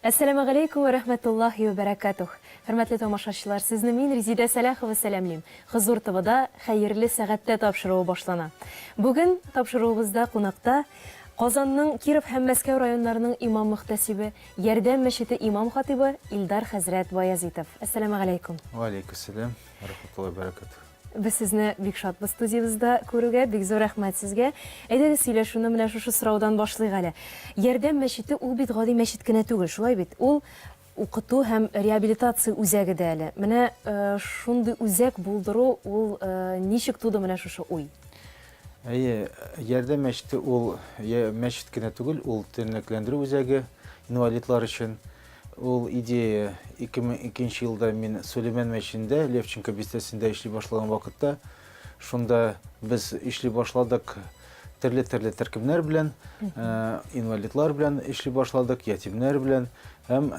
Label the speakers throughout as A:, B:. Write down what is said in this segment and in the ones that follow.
A: Әссәламә галәйкүм вә рәхмәтуллаһи вә бәрәкәтүх! Хөрмәтле тамашачылар, сезне мин, Резидә Сәлахова сәламлим. Хозур ТВда Хәерле сәгатьтә тапшыруы башлана. Бүген тапшыруыбызда кунакта Казанның Киров һәм Мәскәү районнарының имам-мөхтәсибе, Ярдәм мәчете имам-хатыйбы Илдар хәзрәт Баязитов. Әссәламә галәйкүм! Вә аләйкүссәлам!
B: Рәхмәтулла бәрәкәт. Без сезне бик
A: шатбыз студиябездә күрүгә, бик зур рәхмәт сезгә. Әйдәгез сөйләшүне менә шушы сораудан башлыйк әле. Ярдәм мәчете ул бит гади мәчет кенә түгел, шулай бит? Ул укыту һәм реабилитация үзәге дә әле. Менә э, шундый үзәк булдыру ул э, ничек туды менә шушы уй? Әйе, ярдәм
B: мәчете ул мәчет кенә түгел, ул тернәкләндерү үзәге инвалидлар өчен. Ул идея 2002 нче елда мин Сөләймән мәченендә, Левченко бистәсендә эшли башлаган вакытта, шунда без эшли башладык төрле-төрле төркемнәр белән, э, инвалидлар белән эшли башладык, ятимнәр белән. Һәм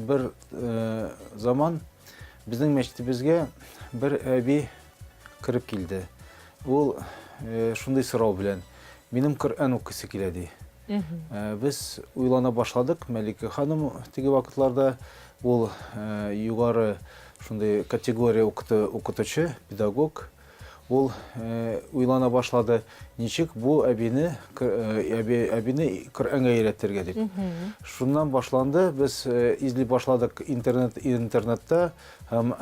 B: бер э, заман безнең мәчетебезгә бер әби Кереп килде. Ул шундый сорау белән, минем Коръән укыйсы килә, ди. Без уйлана башладык, Мәликә ханым теге вакытларда ул югары шундый категория укытучы, педагог. Ул уйлана башлады, ничек бу әбине, әбине Коръәнгә өйрәтергә дип. Шуннан башланды, без эзли башладык интернетта, Һәм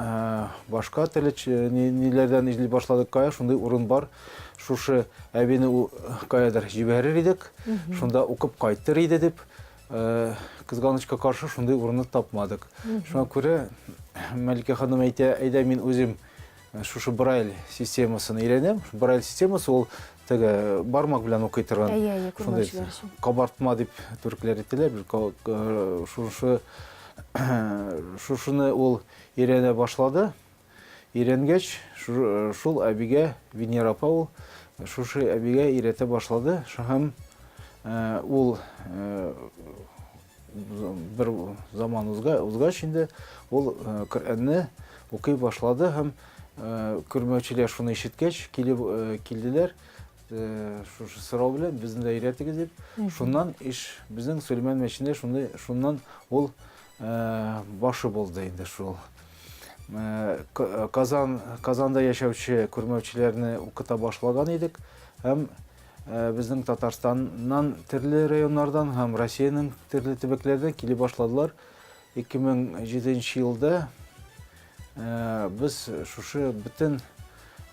B: башка телеч ниләрдән эзли башладык кая, шундый урын бар. Шушы әбине каядыр җибәрер идек, шунда укып кайтыр иде дип, кызганычка каршы шундый урынны тапмадык. Шуңа күрә Мәликә ханым әйтә, әйдә мин үзем Шушы брайль системасын өйрәнәм. Брайль системасы ул теге бармак белән укый торган. Әйе, әйе, күрмәүчеләр өчен. Кабартма дип төркләр әйтәләр. Э, шушы шушыны ул өйрәнә башлады. Өйрәнгәч, э, шул әбигә Венера апа ул шушы әбигә өйрәтә башлады. Һәм э, ул бер заман узгач инде ул э, Коръәнне укый башлады һәм э, күрмәүчеләр шуны ишеткәч килеп э, килделәр шушы сорау белән безне дә өйрәтегез дип. Шуннан иш безнең Сөләйман мәчендә шундый шуннан ул башы булды инде шул. Казан Казанда яшәүче күрмәүчеләрне укыта башлаган идек һәм Ә безнең Татарстаннан төрле районнардан һәм Россиянең төрле төбәкләрдән килеп башладылар. 2007 елда ә, без шушы бөтен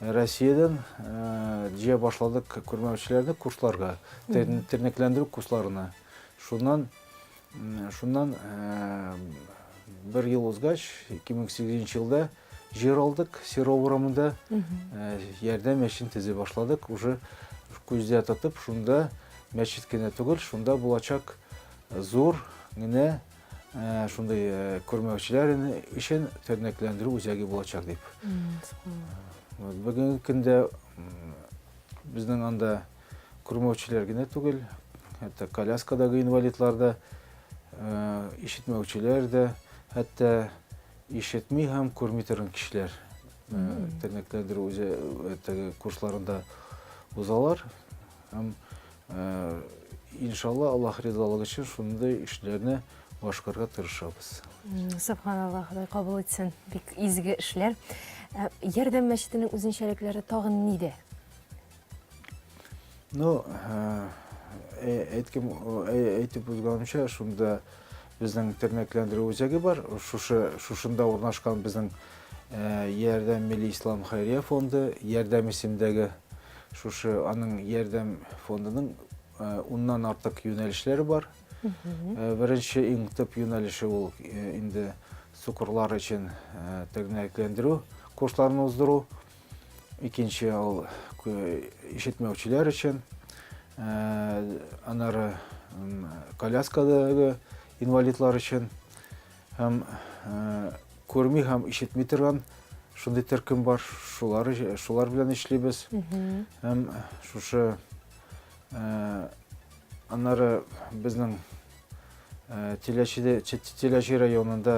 B: Россиядән ә, җыя башладык күрмәүчеләрне курсларга, тернәкләндерү курсларына. Шуннан Шуннан бер ел узгач, 2008 елда җир алдык, Серов урамында ярдәм мәчетен төзи башладык. Уже күздә тотып, шунда мәчет кенә түгел, шунда булачак зур генә Э, шундай э, көрмәүчеләр өчен тернәкләндерү үзәге булачак дип. Бүгенге көндә безнең анда Күрмәүчеләр генә түгел, хәтта коляскадагы инвалидлар да, ишетмәүчеләр дә, хәтта ишетми һәм күрми торган кешеләр тернәкләндерү үзе курсларында узалар. Һәм иншалла Аллаһ ризалыгы өчен шундый эшләрне башкарга тырышабыз. Субханаллаһ,
A: Ходай кабул итсен. Бик изге эшләр. Ярдәм мәчетенең үзенчәлекләре тагын нидә? Ну,
B: э, э, әйткем, э, әйтеп узганымча, шунда безнең тернәкләндерү үзәге бар. Шушы шушында урнашкан безнең Ярдәм милли ислам хәйрия фонды, Ярдәм исемдәге шушы аның Ярдәм фондының уннан артык юнәлешләре бар. Беренче иң төп юнәлеше ул инде сукырлар өчен тернәкләндерү курсларын уздыру. икенче ул ишетмәүчеләр өчен анары коляскадагы инвалидлар өчен һәм күрми һәм ишетми торган шундый төркем бар шулар шулар белән эшлибез һәм шушы анары безнең теләче теләче районында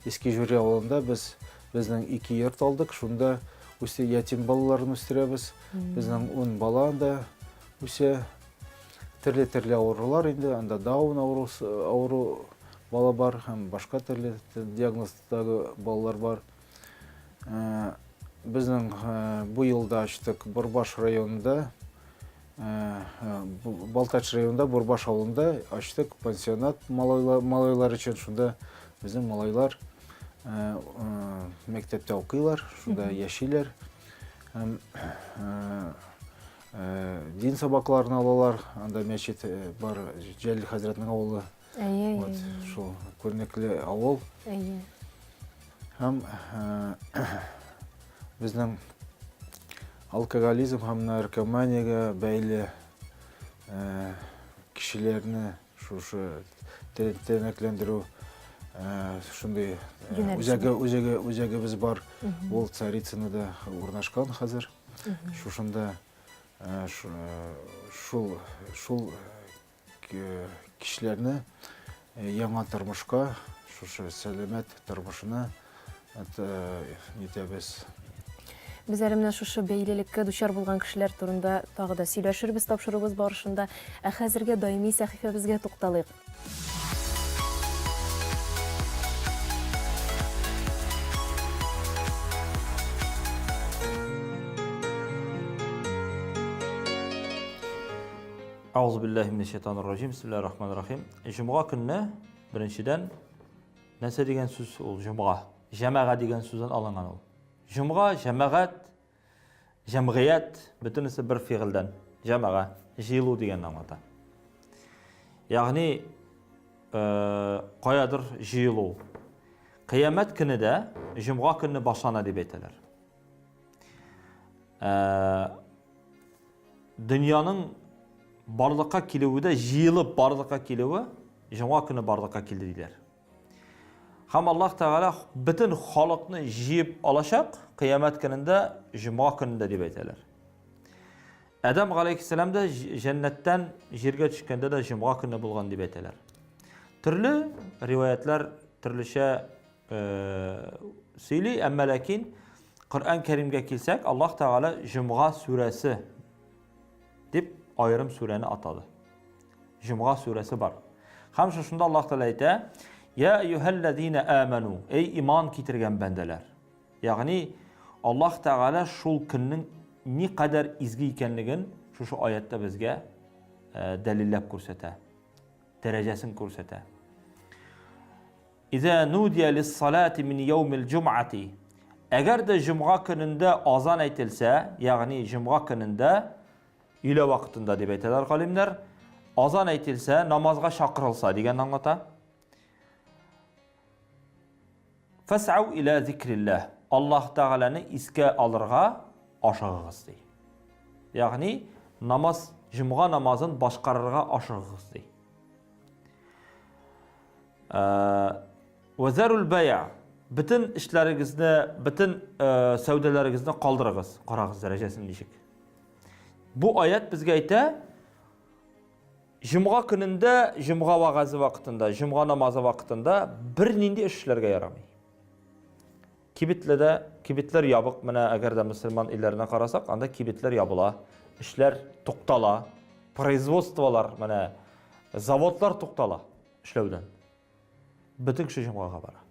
B: Иске Жюри авылында без безнең ике йорт алдык, шунда үсте ятим балаларын үстерәбез. Безнең ун бала анда үсә. Төрле-төрле авырулар инде, анда даун авыру, авыру бала бар һәм башка төрле диагноздагы балалар бар. Ә, безнең ә, бу елда ачтык Борбаш районында Балтач районында Бурбаш авылында ачтык пансионат малайлар өчен. Шунда безнең малайлар мәктәптә укыйлар, шунда яшиләр. Дин сабакларын алалар, анда мәчет бар, Җәлил хәзрәтнең авылы Әйе, вот, әйе. Шул күренекле авыл. Әйе. Һәм э, безнең алкоголизм һәм наркоманиягә бәйле э, кешеләрне шушы тернәкләндерү э, шундый үзәге үзәге үзәгебез бар. Ул Царицынада урнашкан хәзер. Шушында шул шул Кешеләрне яңа тормышка, шушы сәламәт тормышына нитәбез. Без әле
A: менә шушы бәйлелеккә дучар булган кешеләр турында тагы да сөйләшербез тапшыруыбыз барышында. Ә хәзергә даими сәхифәбезгә тукталыйк.
C: Аузу биллахи минәш шайтанир раҗим. Бисмиллахир рахманир рахим. Җомга көнне беренчедән нәрсә дигән сүз ул җомга? Җәмәга дигән сүздән алынган ул. Җомга, җәмәгать, җәмгыять, бөтенесе бер фигыльдән. Җәмәга, җыелу дигәнне аңлата. Ягъни Э, каядыр җыелу. Кыямәт көне дә җомга көнне башлана дип әйтәләр. Ә, дөньяның барлыкка килүе дә җыелып барлыкка килүе җома көне барлыкка килде диләр. Һәм Аллаһ Тәгалә бөтен халыкны җыеп алачак кыямәт көнендә җома көнендә дип әйтәләр. Адам галәйһиссәлам да җәннәттән җиргә төшкәндә дә җома көне булган дип әйтәләр. Төрле риваятлар төрлечә сөйли, әмма ләкин Коръән Кәримгә килсәк, Аллаһ Тәгалә Җомга сүрәсе дип аерым сүрәне атады. Җомга сүрәсе бар. Һәм шушында Аллаһ Тәгалә әйтә: "Я юһәлләзина аману", эй иман китергән бәндәләр. Ягъни Аллаһ Тәгалә шул көннең ни кадәр изге икәнлеген шушы аятта безгә дәлилләп күрсәтә. Дәрәҗәсен күрсәтә. Иза нудия лис-салати мин яумил-җумгати. Әгәр дә җомга көнендә азан әйтелсә, ягъни җомга көнендә, өйлә вакытында дип әйтәләр галимнәр, азан әйтелсә, намазга чакырылса дигән аңлата. Фасау иля зикрилләһ. Аллаһ Тәгаләне искә алырга ашыгыгыз ди. Ягъни намаз, җомга намазын башкарырга ашыгыгыз ди. Вәзәрул бәя. Бөтен эшләрегезне, бөтен сәүдәләрегезне калдырыгыз. Карагыз дәрәҗәсен ничек. Бу аят безгә әйтә, Җомга көнендә, җомга вагазы вакытында, җомга намазы вакытында бер нинди эшләргә ярамый. Кибетледә, кибетләр ябык, менә әгәр дә мусульман илләренә карасак, анда кибетләр ябыла, эшләр туктала, производстволар, менә заводлар туктала. эшләүдән. Бөтен кеше җомгага бара.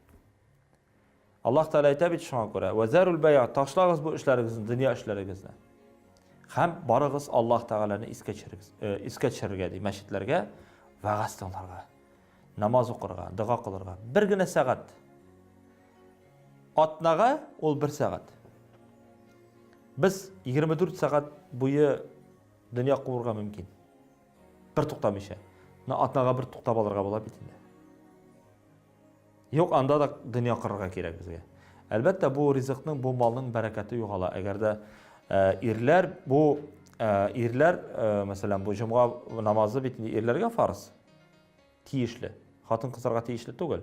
C: Аллаһ Тәгалә әйтә бит шуңа күрә, "Вазарул бәя", ташлагыз бу эшләрегезне, дөнья эшләрегезне. Һәм барыгыз Аллаһ Тәгаләне искә төшерегез, э, искә төшерергә ди, мәчетләргә вәгазь тыңларга, намаз укырга, дога кылырга. Бер генә сәгать. Атнага ул бер сәгать. Без 24 сәгать буе дөнья куырга мөмкин. Бер туктамыйча. Менә атнага бер туктап алырга була бит инде. Юк, анда да дөнья кырырга кирәк безгә. Әлбәттә, бу ризыкның, бу малның бәрәкәте югала. Әгәр дә э, ирләр бу э, ирләр, э, мәсәлән, бу җомга намазы бит инде ирләргә фарыз. Тиешле. Хатын-кызларга тиешле түгел.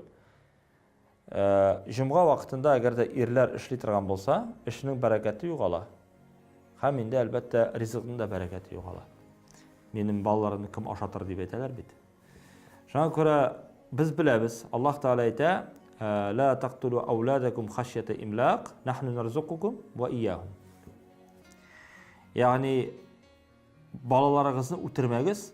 C: Җомга вакытында әгәр дә ирләр эшли торган булса, эшенең бәрәкәте югала. Һәм инде, әлбәттә, ризыкның да бәрәкәте югала. Минем балаларымны кем ашатыр дип әйтәләр бит. Шуңа күрә без беләбез, Аллаһ Тәгалә әйтә, «Ла тактулу ауладакум хашьята имлак, нахну нарзукукум ва ияхум». Ягъни балаларыгызны үтермәгез,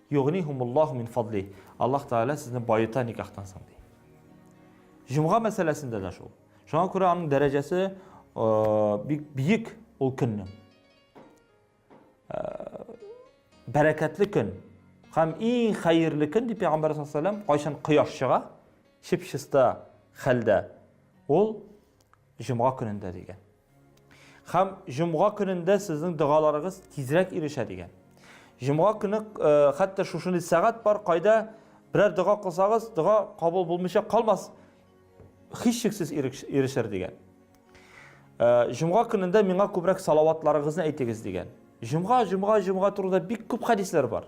C: Йогнихумуллаху мин фадли. Аллаһ Тәгалә сезне баюта никахтан соң ди. Җомга мәсьәләсендә дә шул. Шуңа күрә аның дәрәҗәсе бик биек ул көннең. Бәрәкәтле көн һәм иң хәерле көн дип Пәйгамбәр саллаллаху алейһи ва кайчан кояш чыга, чип-чиста хәлдә ул җомга көнендә дигән. Хәм җомга көнендә сезнең догаларыгыз тизрәк ирешә дигән. Җомга көне э, хәтта шушындый сәгать бар, кайда берәр дога кылсагыз, дога кабул булмыйча калмас, һичшиксез ирешер дигән. Э, җомга көнендә миңа күбрәк салаватларыгызны әйтегез дигән. Җомга, җомга, җомга турында бик күп хәдисләр бар.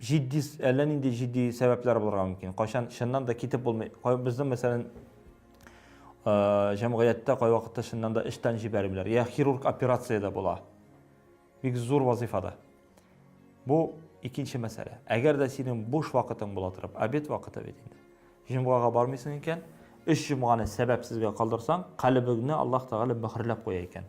C: Җитди, әллә нинди җитди сәбәпләр булырга мөмкин. Кайчан чыннан да китеп булмый. Безнең, мәсәлән, җәмгыятьтә кайвакытта чыннан да эштән җибәрмиләр. Я хирург операциядә була. Бик зур вазифада. Бу икенче мәсьәлә. Әгәр дә синең буш вакытың була торып, обед вакыты бит инде. Җомгага бармыйсың икән, өч җомганы сәбәпсезгә калдырсаң, калебеңне Аллаһ Тәгалә мөхәрләп куя икән.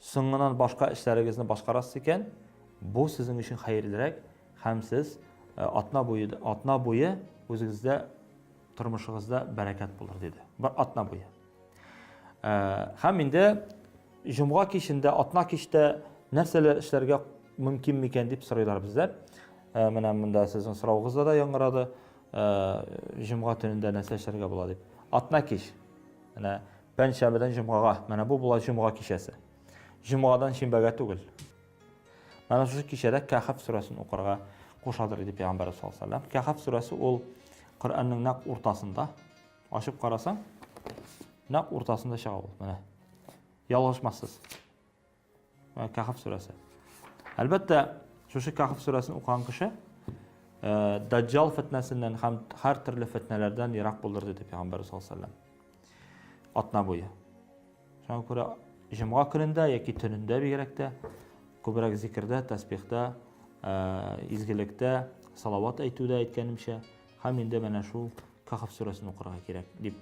C: Соңыннан башка эшләрегезне башкарасыз икән, бу сезнең өчен хәерлерәк һәм сез атна буе, атна буе үзегездә тормышыгызда бәрәкәт булыр, диде. Бер атна буе. Һәм инде җомга кичендә, атна кичтә нәрсәләр эшләргә мөмкин микән дип сорыйлар бездә. Э, менә монда сезнең сорауыгызда да яңгырады э, җомга төнендә нәрсә эшләргә була дип атна кич менә Пәнҗшәмбедән җомгага. Менә бу була җомга кичәсе. Җомгадан шимбәгә түгел. Менә шушы кичәдә Кәхәф сүрәсен укырга кушадыр иде пәйгамбәрбез саллаллаһу алейһи ва сәлләм. Кәхәф сүрәсе ул Коръәннең нәкъ уртасында. Ачып карасаң, нәкъ уртасында чыга ул. Менә. Ялгышмассыз. Кахф сүрәсе. Әлбәттә, шушы Кахф сүрәсен укыган кеше Даҗҗал фетнәсеннән һәм һәр төрле фетнәләрдән ерак булыр диде Пәйгамбәр саллаллаһу алейһи ва Атна буе. Шуңа күрә җомга көнендә яки төнендә бигрәк тә күбрәк зикрдә, тәсбихтә, изгелектә, салават әйтүдә әйткәнемчә, һәм инде менә шул Кахф сүрәсен укырга кирәк дип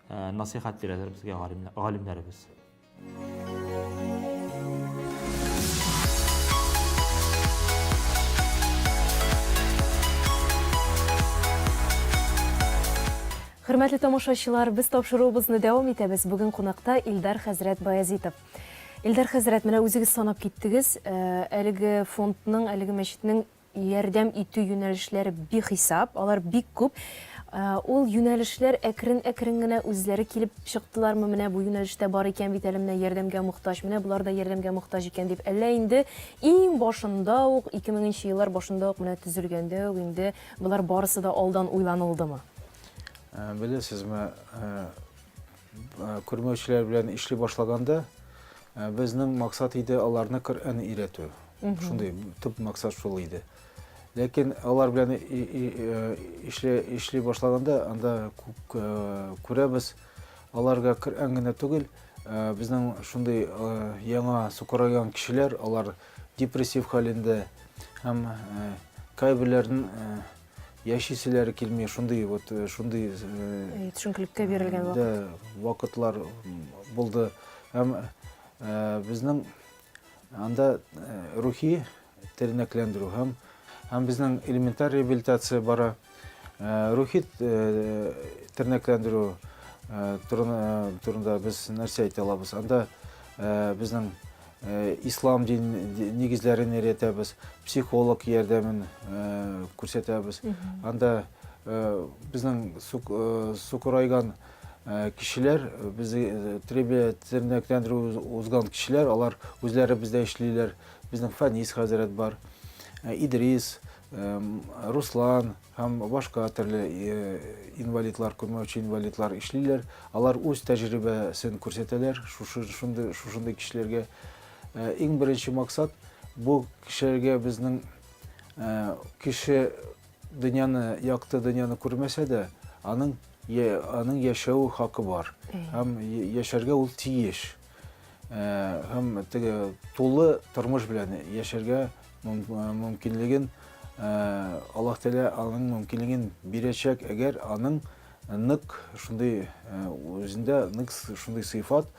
C: насихат бирәләр безгә галимнәребез.
A: Хөрмәтле тамашачылар, без тапшыруыбызны дәвам итәбез. Бүген кунакта Илдар хәзрәт Баязитов. Илдар хәзрәт, менә үзегез санап киттегез, э, әлеге фондның, әлеге мәчетнең Ярдәм итү юнәлешләре бихисап, алар бик күп. Ул юнәлешләр әкрен-әкрен генә үзләре килеп чыктылармы, менә бу юнәлеш тә бар икән бит әле, менә ярдәмгә мохтаҗ, менә болар да ярдәмгә мохтаҗ икән дип, әллә инде иң башында ук, ике меңенче еллар башында ук, менә төзелгәндә үк инде болар барысы да алдан уйланылдымы?
B: Беләсезме, Күрмәүчеләр белән эшли башлаганда безнең максат иде аларны Коръән өйрәтү. Шундый төп максат шул иде. Ләкин алар белән эшли, эшли башлаганда анда күрәбез, аларга Коръән генә түгел, безнең шундый яңа сукырайган кешеләр, алар депрессив хәлендә һәм кайберләрен яшиселәре килми шундый вот э, шундый э, төшенкелеккә
A: бирелгән вакыт да вакытлар
B: булды һәм э, безнең анда рухи тернәкләндерү һәм һәм безнең элементар реабилитация бара рухи тернәкләндерү турында без нәрсә әйтә алабыз анда безнең Э, ислам дин нигезләрен өйрәтәбез психолог ярдәмен э, күрсәтәбез анда э, безнең сукырайган кешеләр без тернәкләндерү узган кешеләр алар үзләре бездә эшлиләр безнең фәнис хәзрәт бар идрис Руслан һәм башка төрле э, инвалидлар, күрмәүче инвалидлар эшлиләр. Алар үз тәҗрибәсен күрсәтәләр шушындый шушындый кешеләргә. Э, иң беренче максат бу кешеләргә безнең э, кеше дөньяны, якты дөньяны күрмәсә дә, аның аның яшәү хакы бар. Һәм яшәргә ул тиеш. һәм теге тулы тормыш белән яшәргә мөмкинлеген Аллаһ Тәгалә аның мөмкинлеген бирәчәк, әгәр аның нык шундый үзендә нык шундый сыйфат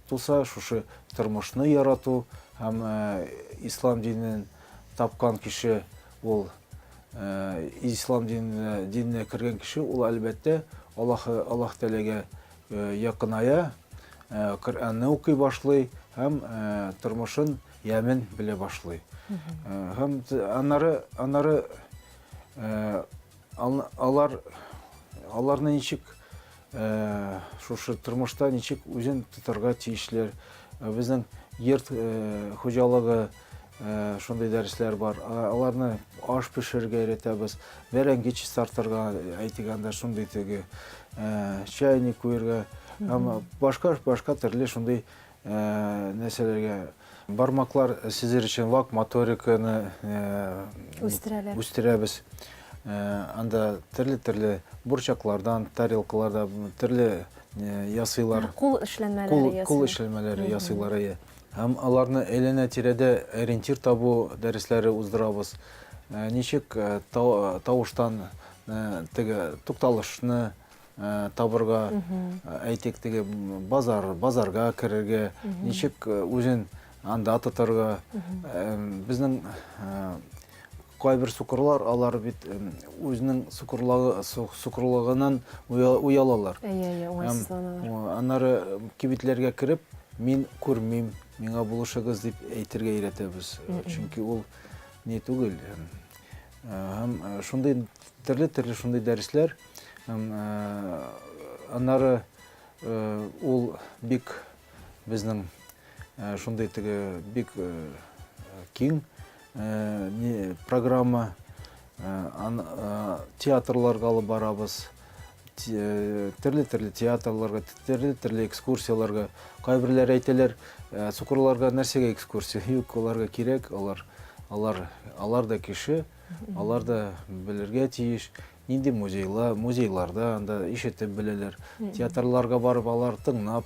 B: туса, шушы тормышны ярату һәм ислам динен тапкан кеше ул ислам диненә, диненә кергән кеше ул әлбәттә Аллаһ Аллаһ Тәгаләгә якыная, Коръәнне укый башлый һәм тормышын ямен белә башлый. Һәм аннары аннары алар аларны ничек шушы тормышта ничек үзен тотарга тиешләр? Безнең йорт хуҗалыгы Шундый дәресләр бар. Аларны аш пешерергә өйрәтәбез. Бәрәңге чистартырга, әйтик анда шундый теге чайник куярга һәм башка башка төрле шундый нәрсәләргә бармаклар сизер өчен лак моториканы үстерәләр. Үстерәбез. Анда төрле-төрле бурчаклардан, тарелкалардан төрле ясыйлар. Кул эшләнмәләре
A: ясыйлар. Кул эшләнмәләре ясыйлар.
B: Һәм аларны әйләнә-тирәдә ориентир табу дәресләре уздырабыз. Ничек тавыштан теге тукталышны табырга, әйтик, теге базар, базарга керергә, ничек үзен анда тотарга. Безнең Кайбер сукырлар, алар бит үзенең сукырлыгыннан уялалар. Әйе, әйе, уңайсызланалар. Аннары кибетләргә кереп, мин күрмим, миңа булышыгыз дип әйтергә өйрәтәбез. Чөнки ул не түгел. Һәм шундый төрле-төрле шундый дәресләр. Аннары ул бик безнең шундый теге бик киң Э, программа э, театрларга алып барабыз төрле төрле театрларга төрле төрле экскурсияларга кайберләр әйтәләр э, сукырларга нәрсәгә экскурсия юк аларга кирәк алар алар алар да кеше алар да белергә тиеш Нинди музейлар, музейларда анда ишетеп беләләр. Театрларга барып алар тыңнап,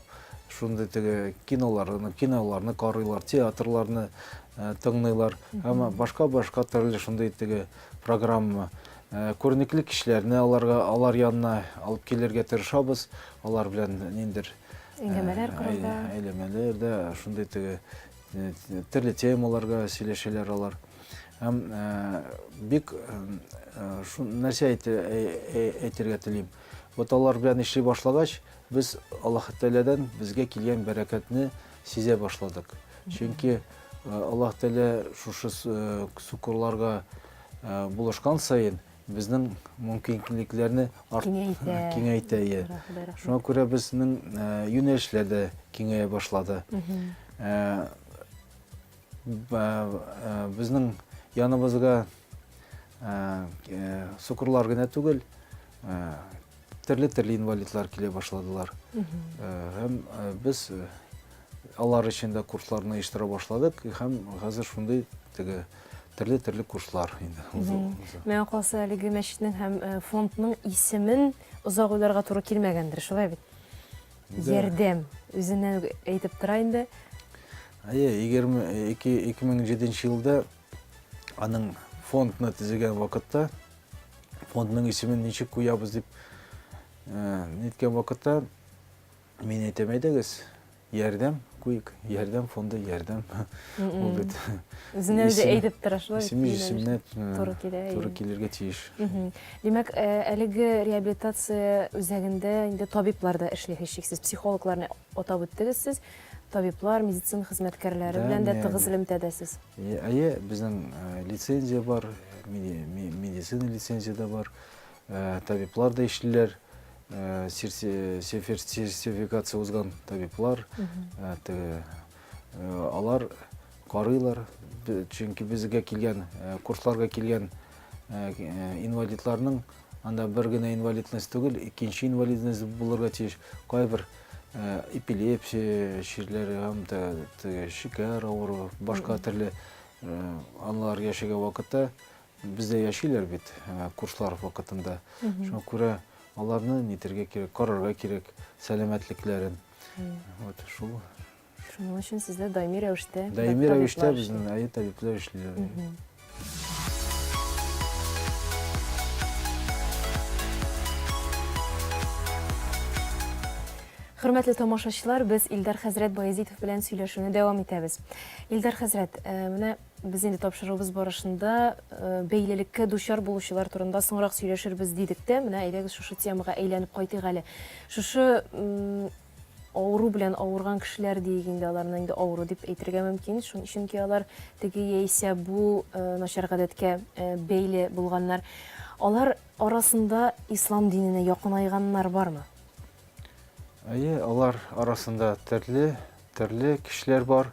B: шундый теге киноларны, киноларны карыйлар, театрларны э, тыңлыйлар. Әмма башка башка төрле шундый теге программа э, күренекле кешеләрне аларга алар янына алып килергә тырышабыз. Алар белән ниндер э, Әңгәмәләр корырга. әйләмәләр дә шундый теге Төрле темаларга сөйләшәләр алар. Һәм бик нәрсә әйтергә телим. Вот алар белән эшли башлагач, без Аллаһ Тәгаләдән безгә килгән бәрәкәтне сизә башладык. Чөнки Аллаһ Тәгалә шушы сукырларга булышкан саен Безнең мөмкинлекләрне киңәйтә. Киңәйтә, иә. Шуңа күрә безнең юнәлешләр дә киңәя башлады. Безнең яныбызга сукырлар гына түгел, төрле-төрле инвалидлар килә башладылар. Һәм без алар өчен дә курсларны оештыра башладык һәм хәзер шундый теге Төрле төрле курслар инде. Миңа калса
A: әлеге мәчетнең һәм э, фондның исемен озак уйларга туры килмәгәндер, шулай бит? Ярдәм үзеннән әйтеп тора инде. Әйе, 2007 э,
B: елда аның фондны төзегән вакытта фондның исемен ничек куябыз дип э, ниткән вакытта мин әйтәм әйдәгез Ярдәм, куек, ярдәм фонды, ярдәм. Ул бит. Үзенә үзе
A: әйтеп тора шулай. Исеме исемне туры
B: килә. Туры килергә тиеш. Димәк,
A: э, әлеге реабилитация үзәгендә инде табиблар да эшли һичшиксез. Психологларны атап үттегез сез. Табиблар, медицина хезмәткәрләре белән дә тыгыз элемтәдәсез. Әйе,
B: безнең э, лицензия бар, медицина лицензия дә бар. Табиблар да эшлиләр, сертификация узган табиблар, алар карыйлар, чөнки безгә килгән, курсларга килгән инвалидларның анда бер генә инвалидность түгел, икенче инвалидность булырга тиеш. Кайбер эпилепсия чирләре һәм дә шикәр авыруы, башка төрле алар яшәгән вакытта Бездә яшиләр бит курслар вакытында. Шуңа күрә аларны нитергә кирәк, карарга кирәк сәламәтлекләрен. Вот шул. Шуның өчен
A: сездә даими рәвештә даими рәвештә безнең
B: әйе табиблар эшлиләр.
A: Хөрмәтле тамашачылар, без Илдар хәзрәт Баязитов белән сөйләшүне дәвам итәбез. Илдар хәзрәт, менә Без инде тапшыруыбыз барышында бәйлелеккә дучар булучылар турында соңрак сөйләшербез дидек тә, менә әйдәгез шушы темага әйләнеп кайтыйк әле. Шушы авыру белән авырган кешеләр диек инде аларны инде авыру дип әйтергә мөмкин чөнки алар теге яисә бу э, начар гадәткә э, бәйле булганнар алар арасында ислам диненә якынайганнар бармы
B: әйе алар арасында төрле Төрле кешеләр бар.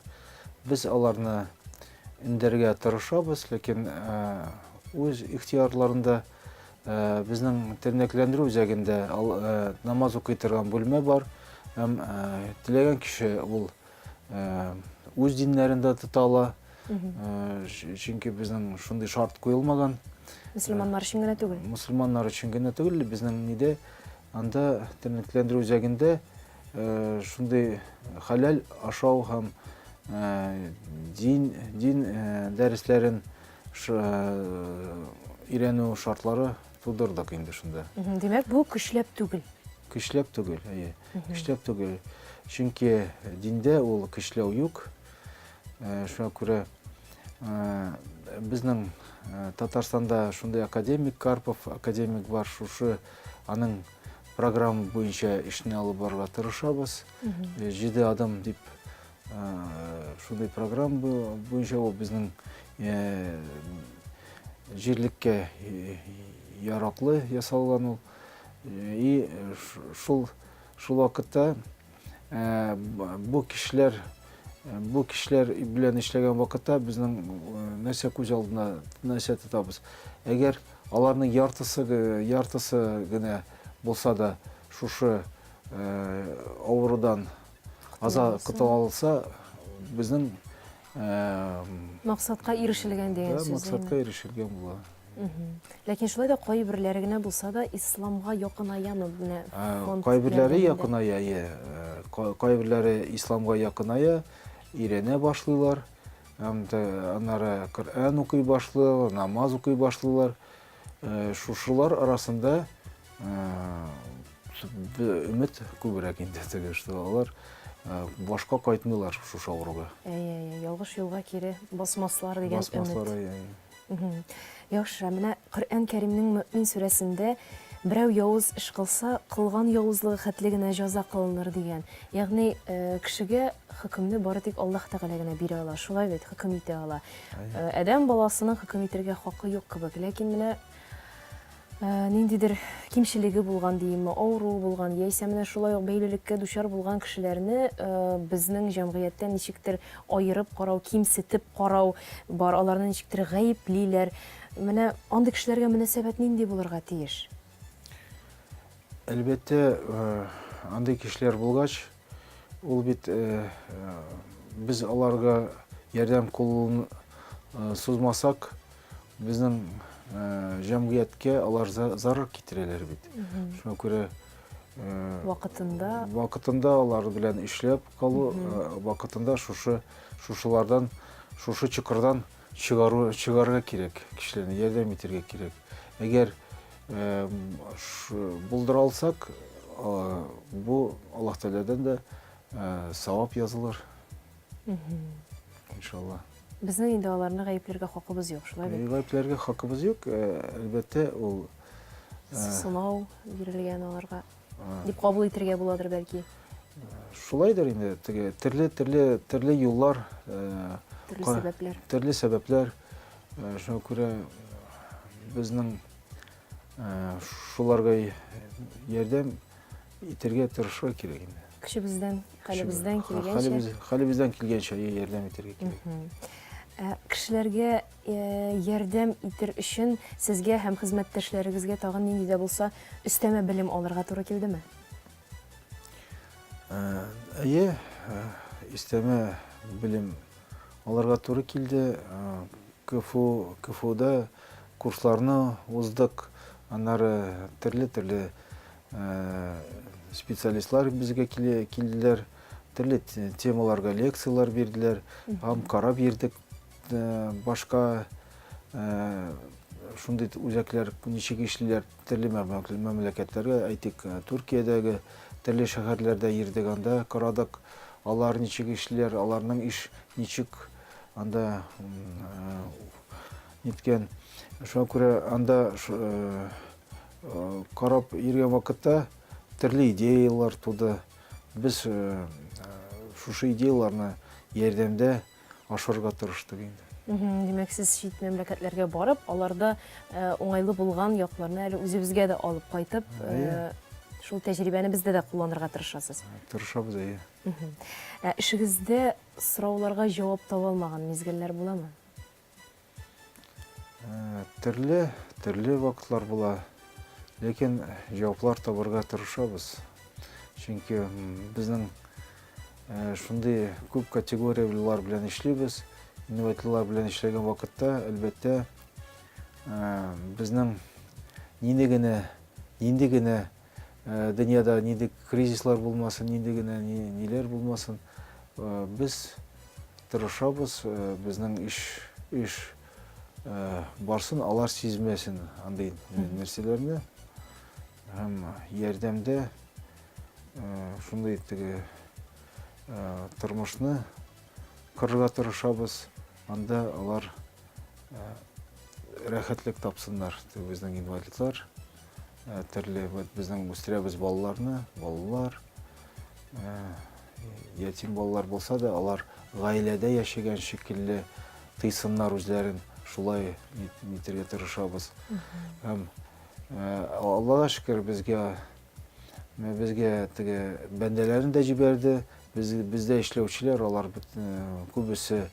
B: Без аларны үндәргә тырышабыз, ләкин үз ихтыярларында безнең тернәкләндерү үзәгендә намаз укый торган бүлмә бар. Һәм теләгән кеше ул үз диннәрендә тота ала. Чөнки безнең шундый шарт куелмаган. Мөселманнар
A: өчен генә түгел. Мөселманнар өчен генә
B: түгел, безнең нидә Анда тернәкләндерү үзәгендә шундый хәләл ашау һәм дин, дин дәресләрен өйрәнү шартлары тудырдык инде шунда. Димәк, бу көчләп
A: түгел. Көчләп түгел,
B: әйе. Көчләп түгел. Чөнки диндә ул көчләү юк. Шуңа күрә безнең Татарстанда шундый академик Карпов академик бар, шушы Аның программа буенча эшне алып барырга тырышабыз. Э, җиде адым дип э, шундый программа буенча ул безнең э, җирлеккә яраклы ясалган ул. И шул шул вакытта Э, бу кешеләр э, бу кешеләр белән эшләгән вакытта безнең э, нәрсә күз алдына нәрсә тотабыз әгәр аларның яртысы яртысы генә булса да шушы авырудан аза котыла алса безнең
A: Максатка ирешелгән дигән сүз. Максатка ирешелгән була.
B: Ләкин
A: шулай да кайберләре генә булса да исламга якынаямы менә? Кайберләре якыная,
B: иә. Кайберләре исламга якыная, өйрәнә башлыйлар. Аннары Коръән укый башлыйлар, намаз укый башлыйлар. Шушылар арасында өмет күбрәк инде теге, что алар башка кайтмыйлар шушы авыруга. Әйе, әйе, ялгыш юлга
A: кире басмаслар дигән өмет. Басмаслар, әйе. Яхшы, менә Коръән Кәримнең Мөэмин сүрәсендә берәү явыз эш кылса, кылган явызлыгы хәтле генә җәза кылыныр дигән. Ягъни, кешегә Хөкемне бары тик Аллаһ Тәгалә генә бирә ала, шулай бит, хөкем итә ала. Ә, Адәм баласының хөкем итергә хакы юк кебек, ләкин менә ә, ниндидер кимчелеге булган димме, авыруы булган, яисә менә шулай ук бәйлелеккә дучар булган кешеләрне ә, безнең җәмгыятьтә ничектер аерып карау, кимсетеп карау бар, аларны ничектер гаеплиләр. Менә андый кешеләргә мөнәсәбәт нинди булырга тиеш? Әлбәттә,
B: э, андый кешеләр булгач, Ул бит без аларга ярдәм кулын сузмасак, безнең җәмгыятькә алар зарар китерәләр бит. Шуңа күрә вакытында вакытында алар белән эшләп калу, вакытында шушы шушылардан, шушы чокырдан Чыгару, чыгарырга кирәк, кешеләрне ярдәм итәргә кирәк. Әгәр булдыра алсак, бу Аллаһ Тәгаләдән дә савап язылыр. Иншалла. Безнең инде аларны
A: гаепләргә хакыбыз юк, шулай бит? Гаепләргә хакыбыз юк,
B: әлбәттә, ул
A: сынау бирелгән аларга. дип кабул итергә буладыр бәлки
B: шулайдыр инде теге төрле төрле төрле юллар э,
A: төрле сәбәпләр төрле сәбәпләр
B: э, шуңа күрә безнең э, шуларга ярдәм итәргә тырышырга кирәк инде көчебездән
A: хәлебездән килгәнчә хәлебездән килгәнчә
B: ярдәм итәргә кирәк кешеләргә
A: Ярдәм итер өчен сезгә һәм хезмәттәшләрегезгә тагын нинди дә булса өстәмә белем алырга туры килдеме?
B: Әйе, өстәмә белем алырга туры килде. КФУ, КФУда курсларны уздык, аннары төрле-төрле специалистлар безгә килделәр, төрле темаларга лекцияләр бирделәр, һәм карап йөрдек. Башка шундый үзәкләр ничек эшлиләр төрле мәмләкәтләргә, әйтик, Төркиядәге төрле шәһәрләрдә йөрдек, анда карадык, алар ничек эшлиләр, аларның эш ничек анда ниткән. Шуңа күрә анда карап йөргән вакытта төрле идеялар туды. Без шушы идеяларны ярдәмдә ашырырга тырыштык инде. Димәк, сез
A: чит мәмләкәтләргә барып, аларда уңайлы булган якларны әле үзебезгә дә алып кайтып, шул тәҗрибәне бездә дә кулланырга тырышасыз. Тырышабыз, әйе.
B: Ә
A: эшегездә сорауларга җавап таба алмаган мизгелләр буламы? Э,
B: төрле төрле вакытлар була ләкин җаваплар табарга тырышабыз чөнки безнең э, шундый күп категорияләр белән эшлибез инвалидлар белән эшләгән вакытта әлбәттә э, безнең нине генә нинди генә Дөньяда нинди кризислар булмасын, нинди генә ниләр булмасын, без тырышабыз, безнең эш эш барсын, алар сизмәсен андый нәрсәләрне. Һәм ярдәмдә шундый теге тормышны кырырга тырышабыз, анда алар рәхәтлек тапсыннар, безнең инвалидлар. Ә, төрле вот безнең үстерәбез балаларны, балалар ә, ятим балалар булса да, алар гаиләдә яшәгән шикелле тыйсыннар үзләрен, шулай ит- итәргә тырышабыз. Һәм ә, Аллага шөкер, безгә мә, безгә теге бәндәләрен дә җибәрде. Без, бездә эшләүчеләр, алар бит, ә, күбесе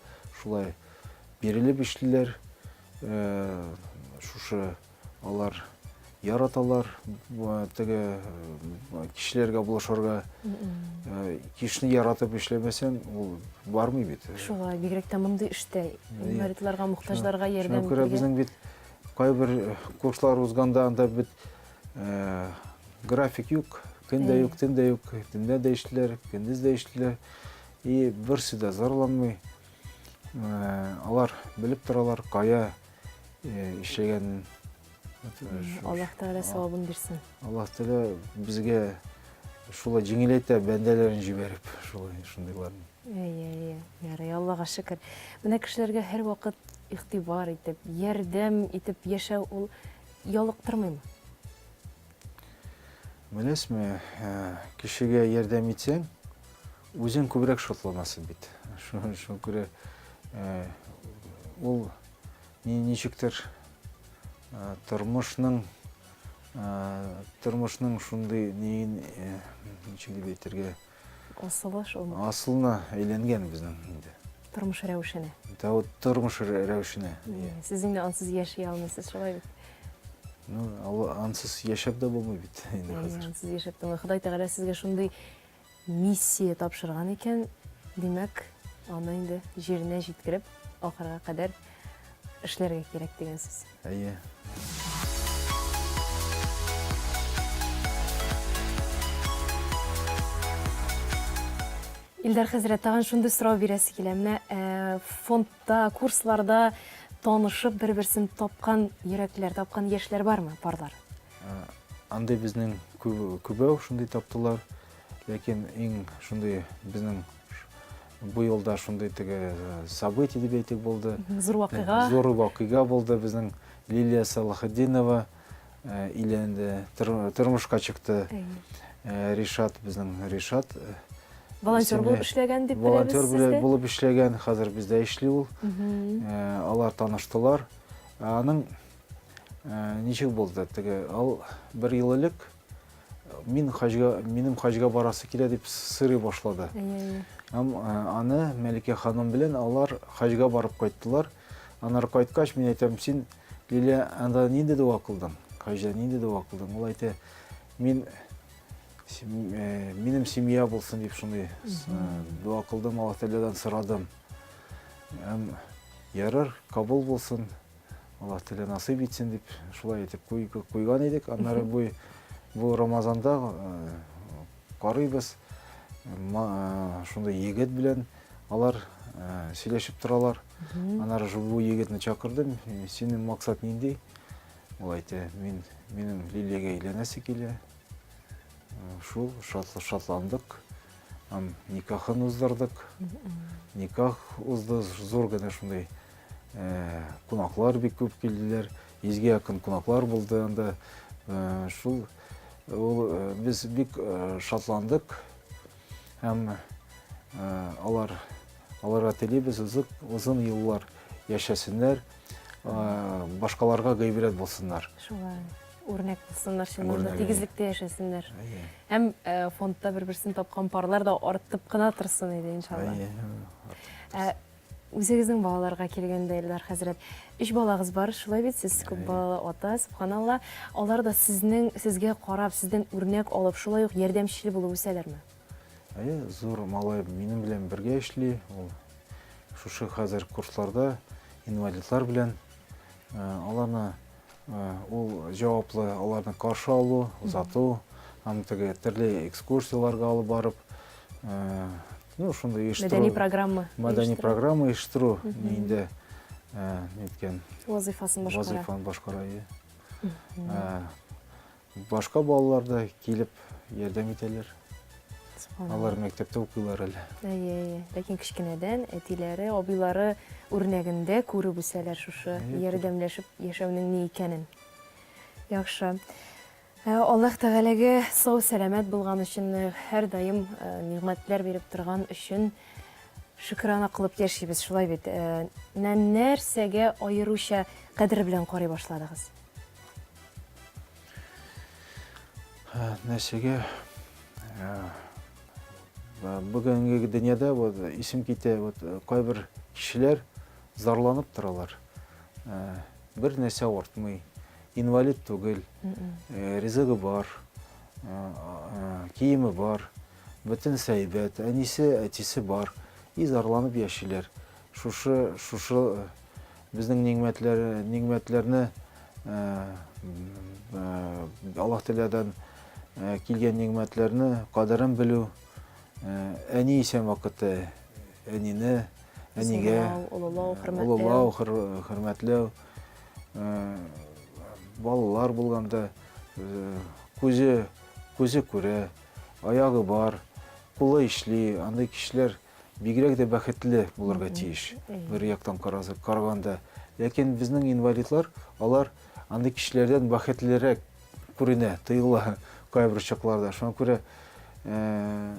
B: шулай бирелеп эшлиләр. Ә, шушы Алар яраталар теге кешеләргә булышырга кешене яратып эшләмәсәң ул бармый бит шулай бигрәк тә мондый
A: эштә инвалидларга мохтаҗларга ярдәм итәргә күрә безнең бит
B: кайбер курслар узганда анда бит график юк көн дә юк төн дә юк төнлә дә эшлиләр көндез дә эшлиләр и берсе дә зарланмый алар белеп торалар кая эшләгәнен
A: аллаһ тәғәлә сауабын бирсен аллаһ тәғәлә
B: безгә шулай җиңеләйтә бәндәләрен җибәреп шулай шундыйларны әйе әйе
A: ярый аллаға шөкер менә кешеләргә һәрвакыт игътибар итеп ярдәм итеп яшәү ул ялыктырмыймы
B: беләсезме кешегә ярдәм итсәң Үзен күбрәк шатланасы бит. Шуңа күрә ул ничектер тормышның тормышның шундый неен ничек дип әйтергә асылы шул асылына әйләнгән безнең инде тормыш рәвешенә
A: да вот тормыш
B: рәвешенә сез инде
A: ансыз яши алмыйсыз шулай бит ну ансыз
B: яшәп дә булмый бит инде хәзер ансыз яшәп булмый ходай
A: тәгалә сезгә шундый миссия тапшырган икән, димәк, аны инде җиренә җиткереп, ахырга кадәр эшләргә кирәк дигән сүз. Әйе. Илдар хәзрәт, тагын шундый сорау бирәсе килә. Менә фонд Та, курсларда танышып, бер-берсен тапкан йөрәкләр, тапкан яшьләр бармы, парлар?
B: Андый безнең күбәү шундый таптылар. Ләкин иң шундый безнең бу юлда шундый теге э, событие дип әйтик булды. Зур вакыйга. Э, зур
A: вакыйга булды
B: безнең Лилия Салахетдинова Өйләнде, тормышка чыкты. Ришат безнең Ришат.
A: Волонтер булып эшләгән дип беләбез сездә. Волонтер булып эшләгән, хәзер
B: бездә эшли ул. Алар таныштылар. Аның ничек булды? Теге ал бер ел элек мин хаҗга, минем хаҗга барасы килә дип сырый башлады. Һәм аны Мәликә ханым белән алар хаҗга барып кайттылар. Аннары кайткач, мин әйтәм, син, Лилия, анда нинди дога кылдың? Хаҗда нинди дога кылдың? Ул әйтә, мин э, минем семья булсын дип шуны дога кылдым, Аллаһ Тәгаләдән сорадым. Һәм ярар, кабул булсын. Аллаһ Тәгалә насыйп итсен дип шулай әйтеп куйган идек. Аннары бу бу Рамазанда э, Карыйбыз, шундый егет белән алар сөйләшеп торалар. Анар бу егетне чакырдым, синең максат нинди? Ул әйтә, мин минем Лилиягә әйләнәсе килә. Шул шатландык. Һәм никахын уздырдык. Никах узды, зур гына шундый кунаклар бик күп килделәр. Йөзгә якын кунаклар булды анда. Шул ул без бик шатландык һәм алар аларга телибез озын, озын еллар яшәсеннәр, башкаларга гыйбрәт булсыннар. Шулай.
A: Үрнәк булсыннар, чыннан да тигезлектә яшәсеннәр. Һәм фондта бер-берсен тапкан парлар да артып кына торсын иде, иншалла. Үзегезнең балаларга килгәндә, Эльдар хәзрәт, өч балагыз бар, шулай бит, сез күп балалы ата, сөбханалла. Алар да сезнең, сезгә карап, сездән үрнәк алып, шулай ук ярдәмчел булып үсәләрме? Әйе,
B: зур малай минем белән бергә эшли, ул шушы хәзер курсларда, инвалидлар белән. Аларны Ул җаваплы аларны каршы алу, озату, аны теге төрле экскурсияләргә алып барып, ну, шундый оештыру. Мәдәни программа.
A: Мәдәни программа
B: оештыру, инде ниткән.
A: Вазыйфасын башкара.
B: Вазыйфаны башкара, Башка балалар да килеп ярдәм итәләр. Алар мәктәптә укыйлар әле. Әйе, әйе. Ләкин кечкенәдән
A: әтиләре, абыйлары үрнәгендә күреп үсәләр шушы ярдәмләшеп яшәүнең ни икәнен. Яхшы. Ә, Аллаһ Тәгаләгә сау сәламәт булган өчен, э, һәрдаим э, нигъмәтләр биреп торган өчен шөкерана кылып яшибез, шулай бит. Э, Менә нәрсәгә аеруча кадер белән карый башладыгыз?
B: нәрсәгә бүгенге дөньяда вот исем китә вот кайбер кешеләр зарланып торалар бер нәрсә артмый инвалид түгел ризыгы бар киеме бар бөтен сәйбәт әнисе әтисе бар и зарланып яшиләр Шушы, шушы безнең нигъмәтләр, нигъмәтләрне Аллаһ Тәгаләдән килгән нигъмәтләрне кадерен белү, әни исән вакыты әнине, әнигә олылау, хөрмәтләү, балалар булганда күзе күзе күрә, аягы бар, кулы эшли, андый кешеләр бигрәк дә бәхетле булырга тиеш. Бер яктан карасак, караганда. Ләкин безнең инвалидлар, алар андый кешеләрдән бәхетлерәк күренә, тоела кайбер чакларда. Шуңа күрә э,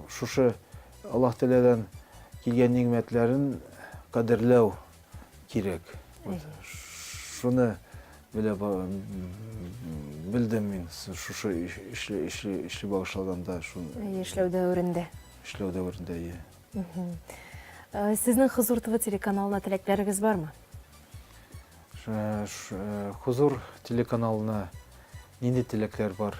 B: шушы Аллаһ Тәгаләдән килгән нигъмәтләрен кадерләү кирәк. Шуны белә белдем мин шушы эшле эшле эшле багышлаганда шуны. Эшләү
A: дәверендә. Эшләү дәверендә, иә. Э, Сезнең Хозур ТВ телеканалына теләкләрегез бармы?
B: Э, Хозур телеканалына нинди теләкләр бар?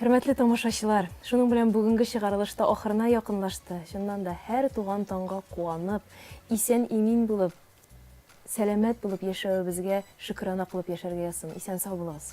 A: Хөрмәтле тамашачылар, шуның белән бүгенге чыгарылыш та ахырына якынлашты. Чыннан да, һәр туган таңга куанып, исән-имин булып, сәламәт булып яшәвебезгә шөкерана кылып яшәргә язсын. Исән-сау булыгыз!